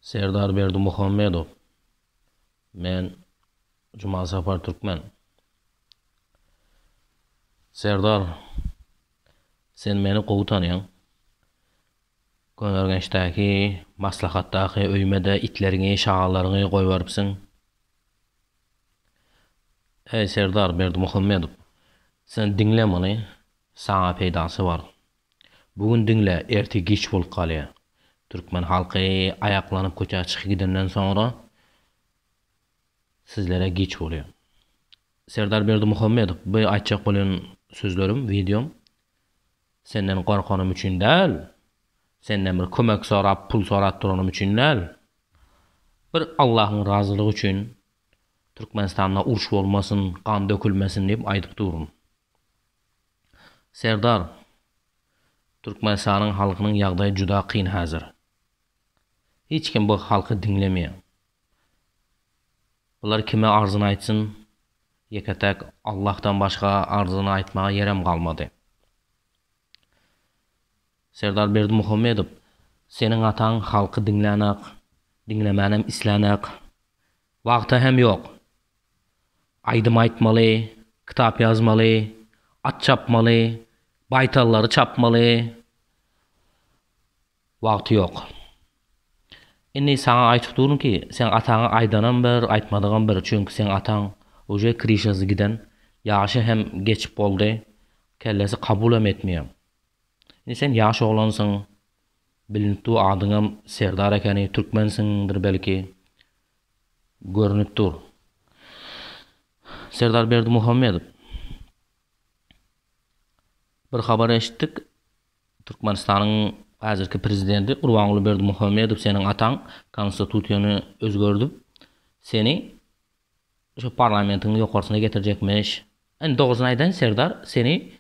Serdar Berdimuhamedow, Men Jumasapar Türkmen. Serdar, sen meni gowy tanýaň. Köneürgençdäki maslahatdaky öýüme-de itleriňi, şagallaryňy goýberipsiň. Eý, Serdar Berdimuhamedow, sen diňle muny, saňa peýdasy bar. Bu gün diňle ertir giç bolup galýar. Türkmen halky aýaklanyp köçä çyky gidenden soňra sizlere giç bolýar. Serdar Berdimuhamedow bu aýtjak bolýan sözlerim, wideom senden gorkanym üçin däl, senden bir kömek sorap pul sorap duranym üçin däl. Bir Allahyň razylygy üçin Türkmenistanda uruş bolmasyn, gan dökülmesin diýip aýdyp durun. Serdar, Türkmenistanyň halkynyň ýagdaýy juda kyn häzir. Hiç kim bu halky diňlemeýär. Bular kime arzyny aýtsyn, ýeke-täk Allahdan başga arzyny aýtmaga ýerem galmady. Serdar Berdimuhamedow, seniň ataň halky diňlänak, diňlemänem islänak. Wagty hem ýok. Aýdym aýtmaly, kitap ýazmaly, at çapmaly, baýtallary çapmaly wagty ýok. Indi saňa aýtyp durun ki, seň ataňa aýdanam bir, aýtmadygam bir, çünki seň ataň uje krişasy giden, ýaşy hem geçip boldy, kellesi kabulam etmeýär. Indi sen ýaş oglansyň, bilinip dur adyňam Serdar ekeni, türkmensiňdir belki, görnüp dur. Serdar Berdimuhamedow, Bir habar eşitdik, Türkmenistanyň häzirki Prezidenti Gurbanguly Berdimuhamedow seniň ataň Konstitusiýany özgerdip, seni şu parlamentiň ýokarsyna getirjekmiş. Indi dogrusyny aýdaýyn, Serdar, seni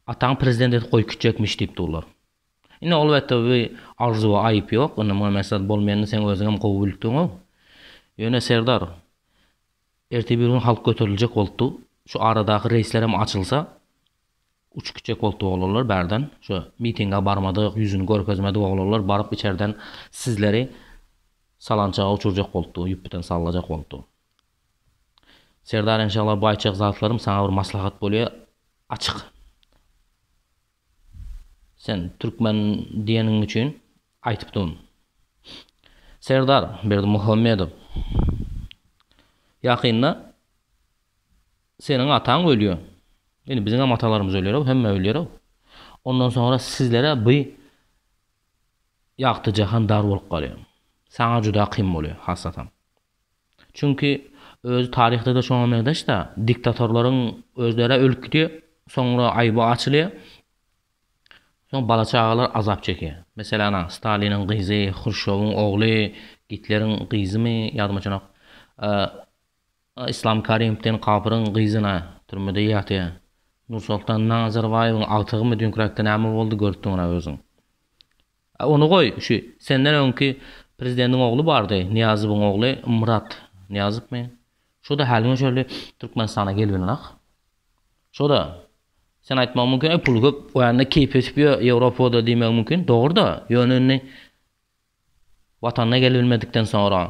ataň Prezident edip goýup gitjekmiş diýip durlar. Indi alwetde bu arzuwa aýyp ýok, indi muňa mesel bolmaýandyr, seň özüňem gowy bilipdiňow. Ýöne Serdar, ertir bir gün halk göteriljek bolupdy, şu aradaky reýslerem açylsa, uçup gitjek bolupdy oglanlar bärden, şu mitinge barmadyk, ýüzüni görkezmedik oglanlar baryp içerden sizleri salançaga uçurjak bolupdy, ýüpbiten sallajak bolupdy. Serdar enşalla bu aýtjak zatlarym saňa bir maslahat bolýar, açyk Sen türkmen diýeniň üçin aýtypdym. Serdar Berdimuhamedow, ýakynda seniň ataň ölýär. Indi biziň hem atalarymyz ölýär-ow, hemme ölýär-ow. Ondan soňra sizlere bu ýagty jahan dar bolup galýar. Saňa juda kyn bolýar, hasatam. Çünki özi taryhda-da şoňa meňzeş-dä, diktatorlaryň özleri-ä ölüp gidýär, soňra aýby açylýar, soň bala-çagalar azap çekýär. Meselem, ana, Staliniň gyzy, Hruşýowyň ogly, Gitleriň gyzymy, ýadymdaçanok, Yslam Karimowden kapyryň gyzy-na türmede ýatýar. Nursoltan Nazarbaýewiň agtygymy dünkiräkde näme boldy, görüpdiň-ä özüň. A ony goý, şu senden öňki prezidentiň ogly bardy, Nyýazowyň ogly Myrat Nyýazowmy? Şo-da häliňe şöhle Türkmenistana gelibinrak. Şo-da, sen aýtmagyň mümkin, öý puly köp, oýanda keýpi ösüp ýör Ýewropada diýmegiň mümkin. Dogry-da, ýöne indi Watanyna gelibilmedikden soňra,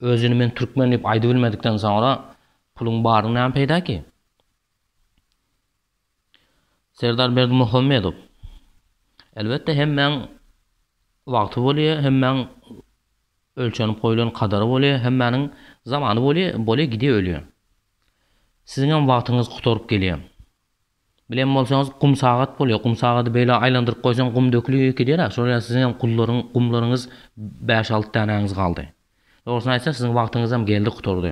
özüni men türkmen diýip aýdybilmedikden soňra puluň baryny näme peýda ki? Serdar Berdimuhamedow, Elbetde hemmäň wagty bolýar, hemmäň ölçenip goýlan kadary bolýar, hemmäniň zamany bolýar, bolýar gidýär ölýär. Siziňem wagtyňyz gutaryp gelýär. Bilen bolsaňyz gum sagat bolýar, gum sagady beýle aýlandyryp goýsaň gum dökülýär gidýär-ä, şol ýaly siziňem gullaryň, gumlaryňyz bäş-alty dänäňiz galdy. Dogrusyny aýtsak siziň wagtyňyzam geldi gutardy.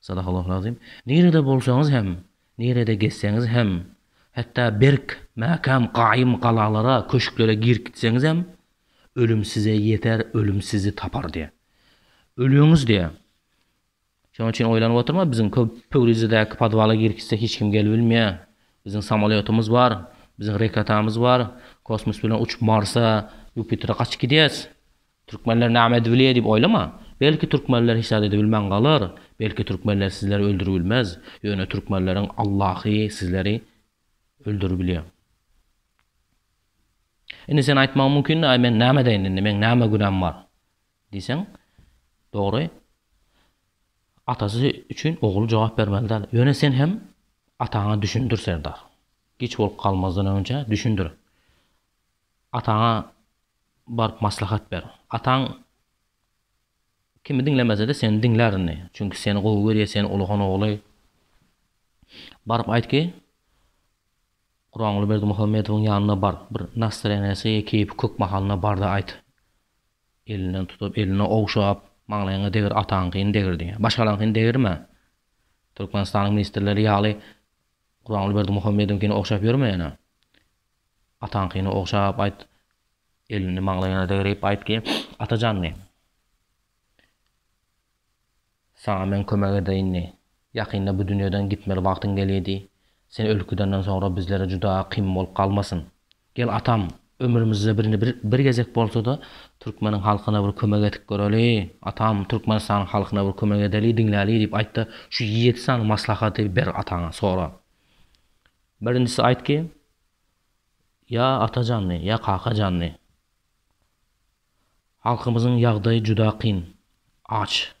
Sadagallahulazim. Nirede bolsaňyz hem, nirede gezseňiz hem, hatda berk, mäkäm, gaýym galalara, köşklere girip gitseňiz hem, ölüm size ýeter, ölüm sizi tapar diýýär. Ölüňiz diýýär. Şonuň üçin oýlanyp oturma, biziň Pöwrizedäki podwala girip gitse hiç kim gelip bilmeýär. Biziň samolýotymyz bar, biziň reketamyz bar, kosmos bilen uçup Marsa, Ýupitera gaçyp gidýäs. Türkmenler name edip bilýär diýip oýlama. Belki türkmenler hiç zat edibilmän galar, belki türkmenler sizleri öldüribilmez, ýöne türkmenleriň Allahy sizleri öldüribilýär. Indi sen aýtmagyň mümkindi aý men name edeýin indi meň name günäm bar diýseň dogry atasy üçin ogul jogap bermeli däl ýöne sen hem ataňa düşündir Serdar giç bolup galmazdan önje düşündir Ataňa baryp maslahat ber. Ataň kimi diňlemese-de seni diňlär indi. Çünki seni gowy görýär, sen ulugyň ogly. Baryp aýt ki, Guranguly Berdimuhamedowyň ýanyna bar. Bir nastreniýasy, keýpi kök mahalyna bar-da aýt. Elinden tutup, elini ogşap, Maňlaýyňa degir, ataňkyny degir diýer. Başgalaryňkyny degirme. Türkmenistanyň ministrleri ýaly Guranguly Berdimuhamedowyňkyny ogşap ýörme ýene. Ataňkyny ogşap aýt, elini maňlaýyna degrip aýt ki, Ata janly, saňa men kömek edeýinli. Ýakynda bu dünýeden gitmeli wagtyň gelýär diý. Sen ölüp gidenden soňra bizlere juda kyn bolup galmasyn. Gel atam, ömrümizde birini bir gezek bolsa-da türkmeniň halkyna bir kömek edip göreli. Atam, Türkmenistanyň halkyna bir kömek edeli, diňläli diýip aýt-da, şu ýedi sany maslahaty ber ataňa, sora. Birinjisi aýtgy, ýa Atajandy, ýa Kakajandy. Halkymyzyň ýagdaýy juda kyn. Aç,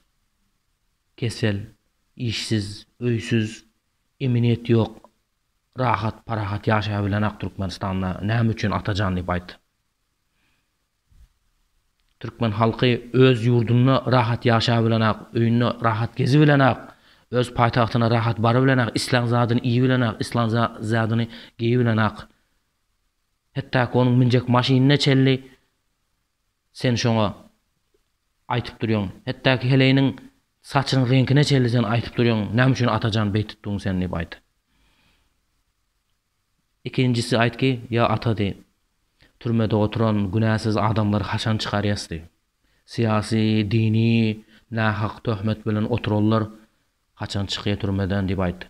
kesel, işsiz, öýsüz, emin-et ýok. Rahat, parahat ýaşaýabilenok Türkmenistanda. Näme üçin Atajan diýip aýt. Türkmen halky öz ýurdunda rahat ýaşabilenok, öýünde rahat gezibilenok, öz paýtagtyna rahat barybilenok, islän zadyny iýibilenok, islän zadyny geýibilenok. Hetdaki onuň münjek maşynyna çenli sen şoňa aýtyp durýoň. Hetdaki heleýiniň saçynyň reňkine çenli sen aýtyp durýoň, näme üçin Atajan beýtipdiň sen diýip aýt. Ikinjisi aýtgy, ýa ata diý. Türmede oturan günäsiz adamlary haçan çykarýas diý. Syýasy, dini nähak töhmet bilen oturanlar haçan çykýa türmeden diýip aýt.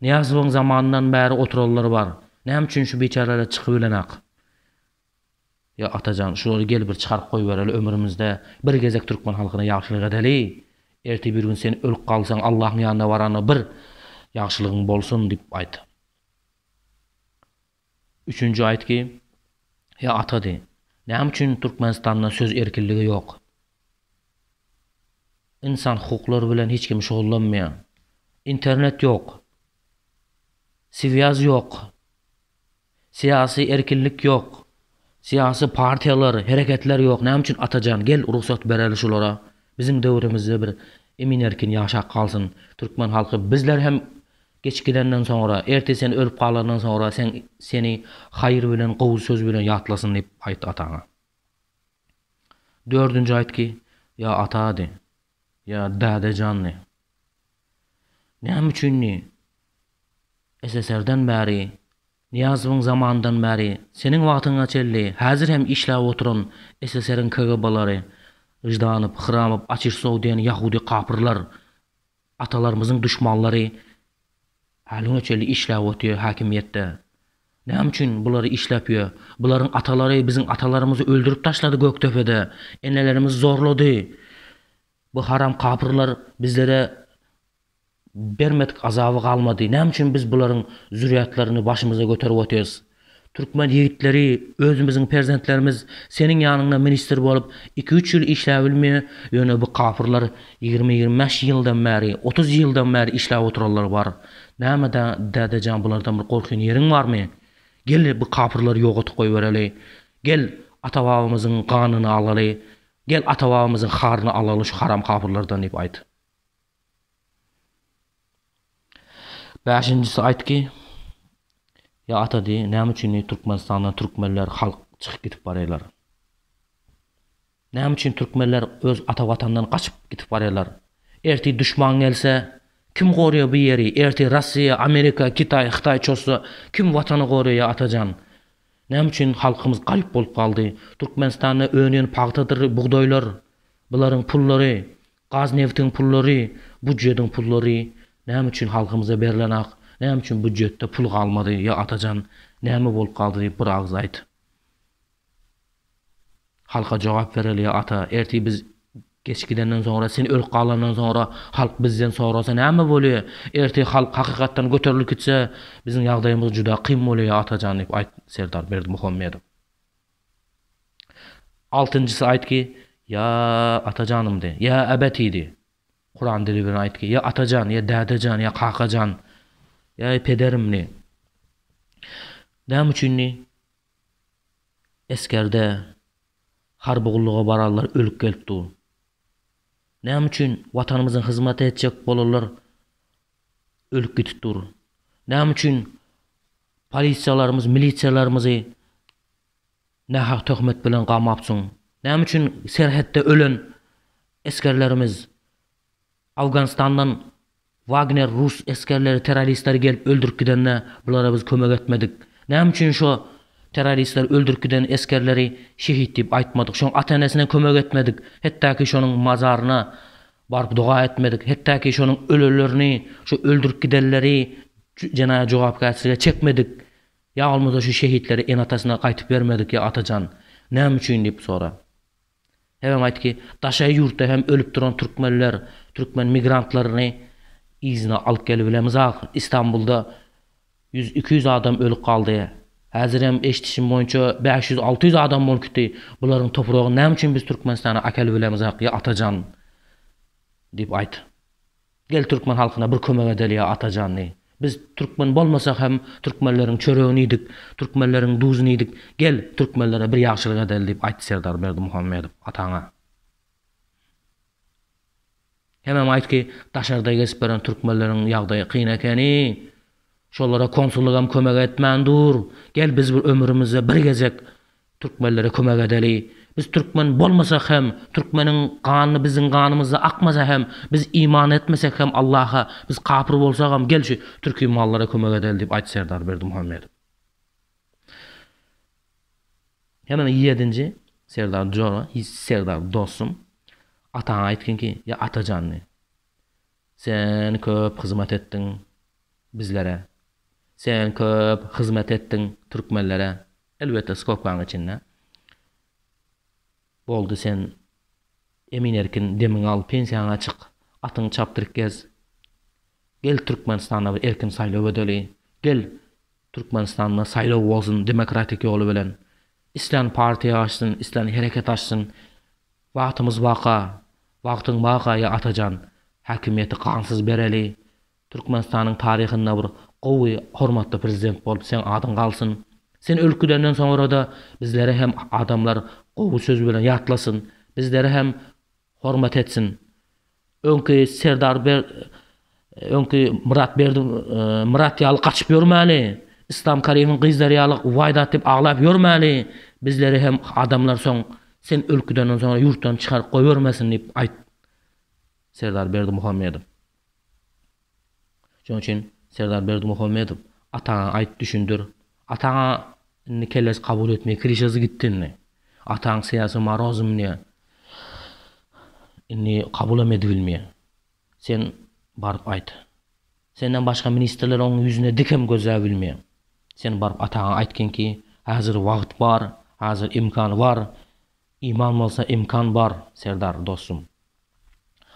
Nyýazowyň zamanyndan bäri oturanlar bar. Näme üçin şu biçäreler çykybilenak? Ýa Atajan, şulary gel bir çykaryp goýbereli ömrümizde bir gezek türkmen halkyna ýagşylyk edeli. Erte bir gün sen ölüp galsaň Allahyň ýanyna baranda bir ýagşylygyň bolsun diýip aýt. Üçünji aýt ki, Ýa Ata diý, näme üçin Türkmenistanda söz erkinligi ýok? Ynsan hukuklary bilen hiç kim şugullanmaýar. Internet ýok. Swýaz ýok. Syýasy erkinlik ýok. Syýasy partiýalar, hereketler ýok. Näme üçin Atajan? Gel rugsat bereli şulara. Biziň döwrümizde bir emin-erkin ýaşap galsyn türkmen halky. Bizler hem geçip gidenden soňra, ertir sen ölüp galandan soňra sen seni haýyr bilen, gowy söz bilen ýatlasyn diýip aýt ataňa. Dördünji aýtgy, ýa ata diý. Ýa Däde janly. Näme üçin ni SSR-den bäri, Nyýazowyň zamanyndan bäri, seniň wagtyňa çenli häzir hem işläp oturan SSR-iň KGB-lary, Ždanow, Hramow, Açişsow diýen ýahudy kapyrlar, atalarymyzyň duşmanlary, Hanyňa çenli işläp otyr hakimiýetde. Näme üçin bulary işläp ýör? Bularyň atalary biziň atalarymyzy öldürip taşlady Gökdepede. Enelerimizi zorlady. Bu haram kapyrlar bizlere bermedik azaby galmady. Näme üçin biz bularyň zürýatlaryny başymyza göterip otyrys? Türkmen ýigitleri özümiziň perzentlerimiz seniň ýanyňda ministr bolup iki üç ýyl işläbilmýä ýöne bu kapyrlar ýigrimi ýigrimi bäş ýyldan bäri otuz ýyldan bäri işläp oturanlar bar näme da dädejan bulardan bir gorkýan ýeriň barmy gel bu kapyrlary ýogatyp goýbereli gel ata babamyzyň ganyny alaly gel ata babamyzyň haryny alaly şu haram kapyrlardan diýip aýt. Bäşinjisi aýtgy, Ýa ata diý, näme üçin diý Türkmenistandan türkmenler, halk çykyp gidip barýarlar? Näme üçin türkmenler öz ata watandan gaçyp gidip barýarlar? Ertir duşman gelse, kim gorýar bu ýeri? Ertir Russiýa, Amerika, Kitaý, Hytaý çozsa, kim watany gorýar ýa ata jan? Näme üçin halkymyz garyp bolup galdy? Türkmenistanda önýän pagtadyr bugdaýlar, bularyň pullary, Gazneftiň pullary, budjediň pullary näme üçin halkymyza berilenak, näme üçin budjetde pul galmady, ýa Atajan näme bolup galdy diýip bir agyz aýt. Halka jogap bereli ýa Ata, ertir biz geç gidenden soňra, sen ölüp galandan soňra halk bizden sorasa näme bolýa, ertir halk hakykatdan göterilip gitse biziň ýagdaýymyz juda kyn bolýa ýa Atajan diýip aýt Serdar Berdimuhamedow. Altynjysy aýtgy, Ýa Atajanymdy, ýa Äbetidi. Kuran dili bilen aýtgy, Ýa Atajan, ýa Dädejan, ýa Kakajan, ýa-i Pederimdi. Näme üçindi? Esgerde, harby gulluga baranlar ölüp gelip dur. Näme üçin Watanymyzyň hyzmaty etjek bolanlar ölüp gidip dur. Näme üçin polisiýalarymyz, milisiýalarymyzy nähak töhmet bilen gamapsyň? Näme üçin serhetde ölen esgerlerimiz Awganystandan Wagner rus esgerleri, terroristleri gelip öldürip gidende bulara biz kömek etmedik? Näme üçin şo terroristler öldürip giden esgerleri şehit diýip aýtmadyk? Şoň ata-enesine kömek etmedik? Hetdaki şonuň mazaryna Baryp doga etmedik. Hetdaki şonuň ölelerini, şu öldürip gidenleri jenaýat jogapkärçilige çekmedik. Ýa bolmasa şu şehitleri ene-atasyna gaýtyp bermedik ýa Atajan, näme üçin diýip sora. Sebäbi aýt ki, daşary ýurtda hem ölüp duran türkmenler, türkmen migrantlaryny yzyna alyp gelibilemiz ahyr. Istanbulda Ýüz iki ýüz adam ölüp galdy. Häzirem eşdişim boýunça bäş ýüz alty ýüz adam bolup gitdi. Bularyň topragyny näme üçin biz Türkmenistana akel bilemizak ýa Atajan diýip aýt. Gel türkmen halkyna bir kömek edeli ýa Atajan diý. Biz türkmen bolmasak hem türkmenleriň çöregini iýdik, türkmenleriň duzuny iýdik. Gel türkmenlere bir ýagşylyk edeli diýip aýt Serdar Berdimuhamedow ataňa. Hemem aýt ki, daşarda gezip ýören türkmenleriň ýagdaýy kyn ekeni. Şolara konsullygam kömek etmän dur. Gel biz bir ömrümizde bir gezek türkmenlere kömek edeli. Biz türkmen bolmasak hem, türkmeniň ganyny biziň ganymyzda akmasa hem, biz iman etmesek hem Allaha, biz kapyr bolsagam gel şu türki mallara kömek edeli diýip aýt Serdar Berdimuhamedow. Ýene ýedinji Serdar jora, Hi Serdar dostum, ataňa aýtgyn ki, ýa Atajan diý. Sen köp hyzmat etdiň bizlere. Sen köp hyzmat etdiň türkmenlere. Elbetde skobkaň içinde. Boldy sen Emin Erkin demiňi al pensiýaňa çyk atyňy çapdyryp gez gel Türkmenistanda bir erkin saýlaw edeli gel Türkmenistanda saýlaw bolsun demokratik ýoly bilen islän partiýa açsyn islän hereket açsyn wagtymyz baka wagtyň baka ýa Atajan häkimiýeti gansyz bereli Türkmenistanyň taryhynda bir gowy hormatly prezident bolup seň adyň galsyn. Sen ölüp gidenden soňrada bizleri hem adamlar gowy söz bilen ýatlasyn. Bizleri hem hormat etsin. Öňki Serdar Ber öňki Myrat Berdi Myrat ýaly gaçyp ýörmäli. Islam Karimiň gyzlary ýaly waý dat diýip aglap ýörmäli. Bizleri hem adamlar soň sen ölüp gidenden soňra ýurtdan çykaryp goýbermesin diýip aýt. Serdar Berdimuhamedow. Şonuň üçin Serdar Berdimuhamedow ataňa aýt düşündir. Ataňa indi kellesi kabul etmeýär kirişesi gitdi indi. Ataň syýasy marozmnýa. Indi kabulam edibilmeýär. Sen baryp aýt. Senden başga ministrler oň ýüzüne dikem gözläbilmeýär. Sen baryp ataňa aýtgynki häzir wagt bar, häzir imkan bar. Iman bolsa imkan bar Serdar dostum.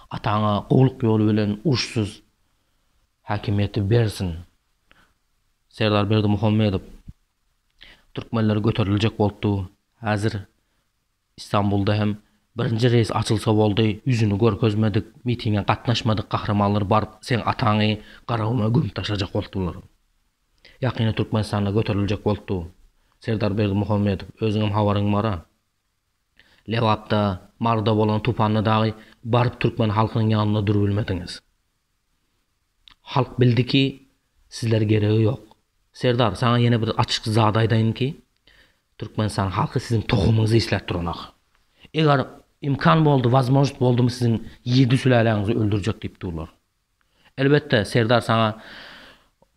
Ataňa gowluk ýoly bilen uruşsyz häkimiýeti bersin. Serdar Berdimuhamedow Türkmenler göteriljek bolupdy häzir İstanbulda hem birinji reýs açylsa boldy ýüzüni görkezmedik mitinge gatnaşmadyk gahramanlar baryp seň ataňy garaguma gömüp taşlajak bolupdylar. Ýakynda Türkmenistanda göteriljek bolupdy bu. Serdar Berdimuhamedow, özüňem habaryň bar-a. Lebapda, Maryda bolan tupanda dagy baryp türkmen halkynyň ýanynda durbilmediňiz. Halk bildi ki, sizler geregi ýok. Serdar, saňa ýene bir açyk zat aýdaýyn ki, Türkmenistan halky siziň tohumyňyzy isläp duranok. Eger imkan boldy, wazmožnost boldumy siziň ýedi süläläňizi öldürjek diýip durlar. Elbetde, serdar saňa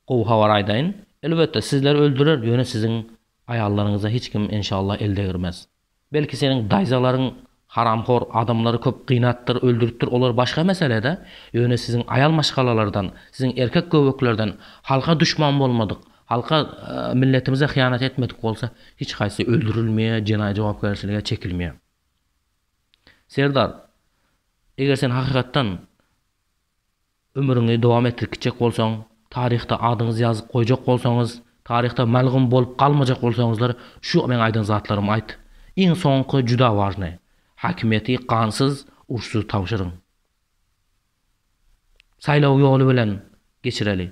gowy habar aýdaýyn. Elbetde, sizleri öldürer, ýöne siziň aýallaryňyza hiç kim enşalla el degirmez. Belki seniň daýzalaryň haramhor adamlary köp gynapdyr, öldüripdir, olar başga mesele-de, ýöne siziň aýal maşgalalardan, siziň erkek göbeklerden halka duşman bolmadyk, halka, milletimize hyýanat etmedik bolsa, hiç haýsy öldürilmeýär, jenaýat jogapkärçilige çekilmeýär. Serdar, eger sen hakykatdan ömrüňi dowam etdirip gitjek bolsaň, taryhda adyňyzy ýazyp goýjak bolsaňyz, taryhda melgum bolup galmajak bolsaňyzlar, şu meň aýdan zatlarymy aýt. Iň soňky juda wažnyý. Häkimiýeti gansyz, uruşsyz tabşyryň. Saýlaw ýoly bilen geçireli.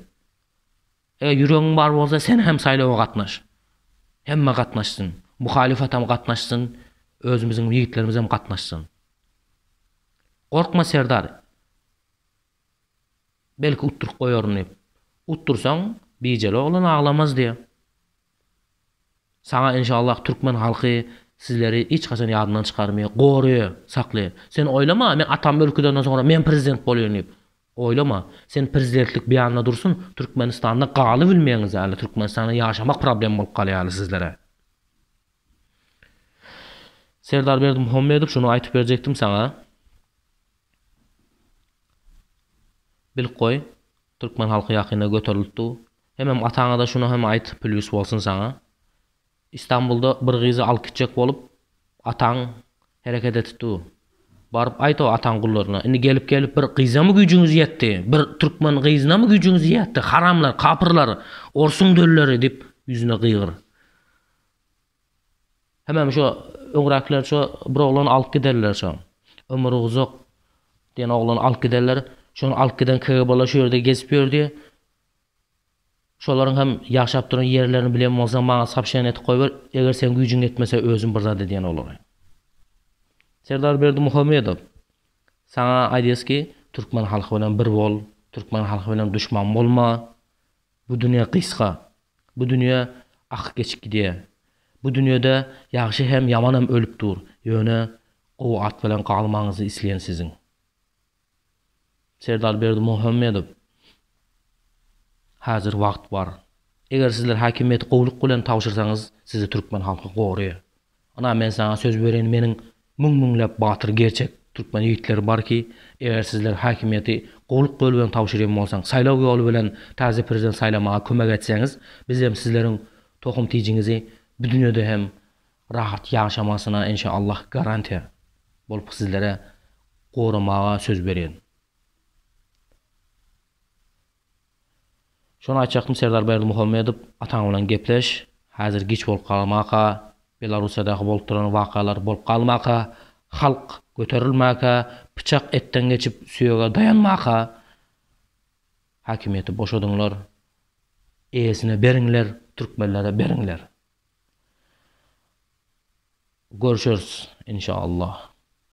Eger ýüregiň bar bolsa sen hem saýlawa gatnaş. Hemme gatnaşsyn. Muhalyfatam gatnaşsyn, özümiziň ýigitlerimizem gatnaşsyn. Gorkma Serdar. Belki utduryp goýaryn diýip. Utdursaň, bijeli oglan aglamaz diýýär. Saňa inşallah türkmen halky sizleri hiç haçan ýadyndan çykarmaýar, goraýar, saklaýar. Sen oýlama men atamy ürküzenden soňra men prezident bolaýyn diýip. Oýlama. Sen prezidentlik bianna dursun türkmenistanda galybilmeýäňiz ýaly türkmenistanda ýaşamak problem bolup galýar ýaly sizlere. Serdar Berdimuhamedow şuny aýtyp berjekdim saňa. Bilip goý. Türkmen halky ýakynda göterilip dur. Hemem ataňada şuny hem aýt plýus bolsun saňa. Istanbulda bir gyzy alyp gitjek bolup ataň hereket etip dur. Baryp aýt o ataň gullaryna. Indi gelip gelip bir gyzamy güýjüňiz ýetdi. Bir türkmen gyzynamy güýjüňiz ýetdi. Haramlar, kapyrlar, orsuň dölleri diýip ýüzüne gygyr. Hemem şo öňräkiler şo bir oglany alyp giderler şo. Ömür uzak diýen oglany alyp giderler. Şony alyp giden KGB-lar şu ýerde gezip ýördi. Şolaryň hem ýaşap duran ýerlerini bilen bolsaň maňa sopşeniýa edip goýber, eger seň güýjüň ýetmese özüm bir zat edýän olara. Serdar Berdimuhamedow, Saňa aýdýas ki, türkmen halky bilen bir bol, türkmen halky bilen duşman bolma. Bu dünýe gysga. Bu dünýe akyp geçip gidýär. Bu dünýede ýagşy hem, ýaman hem ölüp dur. Ýöne gowy at bilen galmagyňyzy isleýän siziň. Serdar Berdimuhamedow, Häzir wagt bar. Eger sizler häkimiýeti gowulyk bilen tabşyrsaňyz, sizi türkmen halky goraýar. Ynha men saňa söz bereýin meniň müň müňläp batyr gerçek türkmen ýigitleri bar ki eger sizler häkimiýeti gowluk ýoly bilen tabşyrýan bolsaň saýlaw ýoly bilen taze prezident saýlamaga kömek etseňiz biz hem sizleriň tohum tijiňizi bu dünýede hem rahat ýaşamasyna enşa Allah garantiýa bolup sizlere goramaga söz bereýin. Şony aýtjakdym Serdar Berdimuhamedow ataň bilen gepleş häzir giç bolup galmaka Belarussiýadaky bolup duran wakalar bolup galmaka halk göterilmäka pyçak etden geçip süýege daýanmaka häkimiýeti boşadyňlar eýesine beriňler türkmenlere beriňler görşeris inşallah.